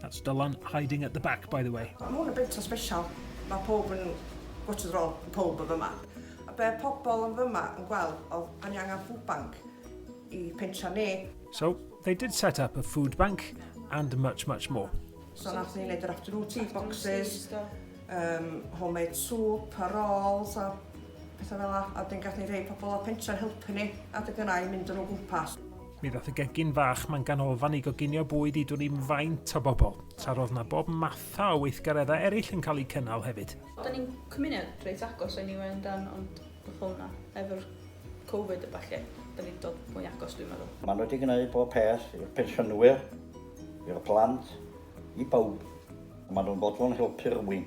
That's Dylan hiding at the back, by the way. Mae hwn yn bentro special. Mae pawb yn watch the roll, pawb yn fyma. A be pobl yn fyma yn gweld oedd bod ni angen food bank i pentra ni. So, they did set up a food bank and much, much more. So, nath ni wneud yr afternoon tea boxes, um, homemade soup, a rolls, a pethau fel la. A dyn gath ni rhoi pobl o pentra'n helpu ni, a dy gynnau mynd yn o gwmpas. Mi ddaeth y gegin fach ma'n ganolfan i goginio bwyd i dwn i'm faint o bobl, tra roedd na bob matha o weithgareddau eraill yn cael eu cynnal hefyd. Da ni'n cymuned reit agos eniwe yndan ond wrth hwnna, efo'r covid a ballu, da ni'n dod mwy agos dwi'n meddwl. Maen nhw wedi gwneud bob peth i'r pensiynwyr, i'r plant, i bawb. Maen nhw'n fodlon helpu rhywun.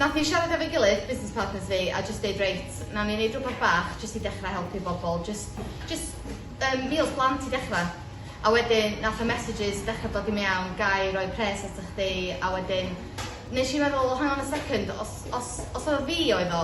Nath ni siarad efo'i gilydd, business partners fi, a jyst deud reit, nawn ni neud rwbath bach jyst i dechra helpu bobl, jyst jyst yym meals blant i dechra. A wedyn nath y messages dechra dod i mewn, gai roi pres ata chdi, a wedyn nesh i meddwl oh hang on a second os os os o fi oedd o,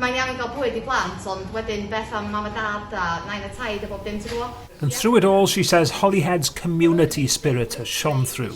mae'n iawn i ga'l bwyd i blant ond wedyn beth am mam a dad a nain a taid a bob dim ti gwbo? And through it all she says Holyhead's community spirit has shone through.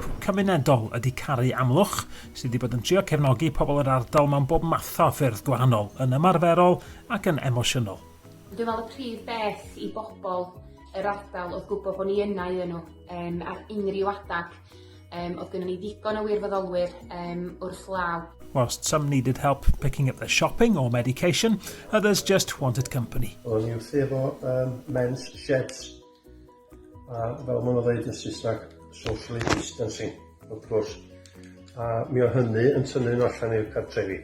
Pwnc cymunedol ydy Caru Amlwch, sydd wedi bod yn trio cefnogi pobl yr ardal mewn bob math o ffyrdd gwahanol, yn ymarferol ac yn emosiynol. Dwi'n meddwl y prif beth i bobl yr ardal oedd gwybod bod ni yna iddyn nhw, um, ar unrhyw adag. Um, oedd gynnu ni ddigon o wirfoddolwyr um, wrth law. Whilst some needed help picking up their shopping or medication, others just wanted company. O'n i wrth efo um, men's sheds A fel maen nhw'n dweud yn Saesneg, socially distancing, wrth gwrs. A mi o hynny yn tynnu nhw allan i'r cartrefi.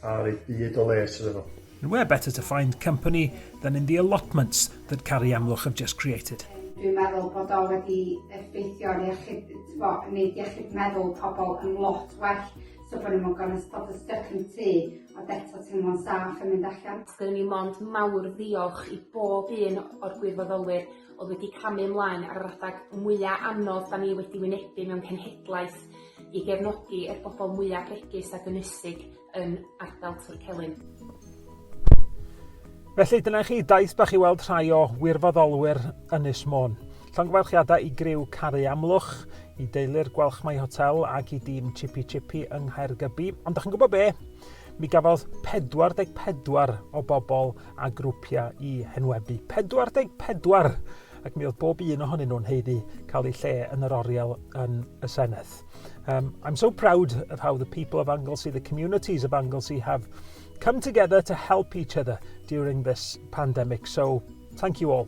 A rhaid byd o les iddyn nhw. And where better to find company than in the allotments that Cari Amlwch have just created. Dwi'n meddwl bod o wedi effeithio'n iechyd, t'bo, neud iechyd meddwl pobl yn lot well. So bod ni mor gorau jyst bod yn styc yn y tŷ ond eto teimlo'n saff yn mynd allan. Dwi myn' i mond mawr ddiolch i bob un o'r gwirfoddolwyr o'dd wedi camu ymlaen ar yr adag mwya anodd 'dan ni wedi wynebu mewn cenhedlaeth i gefnogi y bobol mwya bregus ag ynysig yn ardal Twrcelyn. Felly dyna chi daith bach i weld rhai o wirfoddolwyr Ynys Môn. Llongyfarchiadau i griw Caru Amlwch, i deulu'r Gwalchmai Hotel ac i dîm Chippy Chippy yng Nghaergybi. Ond da chi'n gwybod be? Mi gafodd 44 o bobl a grwpiau i henwebu. 44! Ac mi oedd bob un ohonyn nhw'n heiddi cael eu lle yn yr oriel yn y Senedd. Um, I'm so proud of how the people of Anglesey, the communities of Anglesey have come together to help each other during this pandemic. So, thank you all.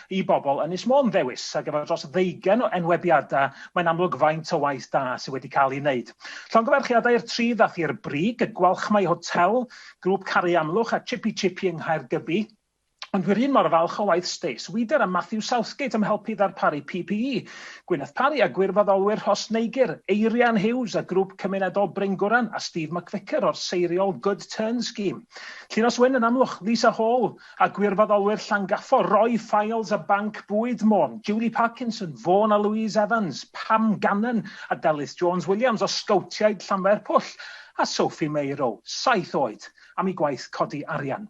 i bobl Ynys Môn ddewis ar gyfer dros ddeugain o enwebiadau, mae'n amlwg faint o waith da sydd wedi cael ei wneud. Llongyfarchiadau i'r tri ddaeth i'r brig, y Gwalchmai Hotel, Grŵp Caru Amlwch a Chippy Chippy yng Nghaergybi, ond dwi 'r un mor falch o waith Stace Weeder a Matthew Southgate am helpu i ddarparu PPE, Gwyneth Parry a gwirfoddolwyr Rhos Neigur, Eirian Hughes a Grŵp Cymunedol Bryngwran a Steve McVicker o'r seiriol Good Turn Scheme. Llinos Wyn yn Amlwch, Lisa Hall, A gwirfoddolwyr Llangafor, Roy Files a Banc Bwyd Môn, Julie Parkinson, Vaughan a Louise Evans, Pam Gannon a Delyth Jones Williams o Sgowtiaid Llanfairpwll a Sophie Meiro, saith oed, am eu gwaith codi arian.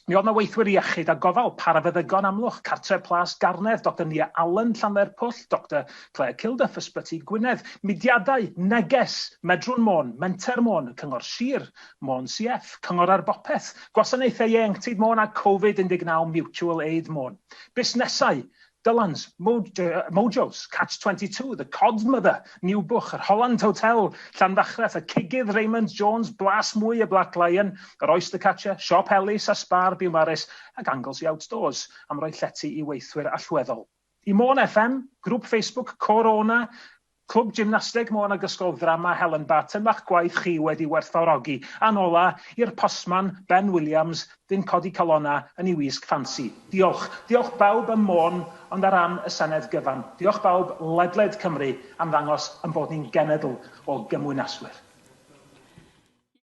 Mi oedd 'na weithwyr iechyd a gofal, parafeddygon Amlwch, Cartref Plas Garnedd, Doctor Nia Allen, Llanfairpwll, Doctor Claire Kilduff, Ysbyty Gwynedd, mudiadau, neges, Medrwn Môn, Menter Môn, y Cyngor Sir, Môn CF, Cyngor ar Bopeth, Gwasanaethau Ieuenctid Môn a Covid 19 Mutual Aid Môn. Busnesau, Dylan's, Mojo's, Catch 22, The Cod Mother, New Book, yr Holland Hotel, Llanfachreth, y Cigydd Raymond Jones, Blas Mwy y Black Lion, yr Oyster Catcher, Siop Ellis a Sbar Biwmaris ac Anglesey Outdoors am roi llety i weithwyr allweddol. Y Môn FM, Grŵp Facebook Côr Ona, Clwb Gymnasteg Môn ac Ysgol Ddrama Helen Barton ma'ch gwaith chi wedi werthfawrogi. A'n ola, i'r postman, Ben Williams, dyn codi calona yn ei wisg ffansi. Diolch. Diolch bawb ym Môn ond ar ran y Senedd gyfan, diolch bawb ledled Cymru am ddangos ein bod ni'n genedl o gymwynaswyr.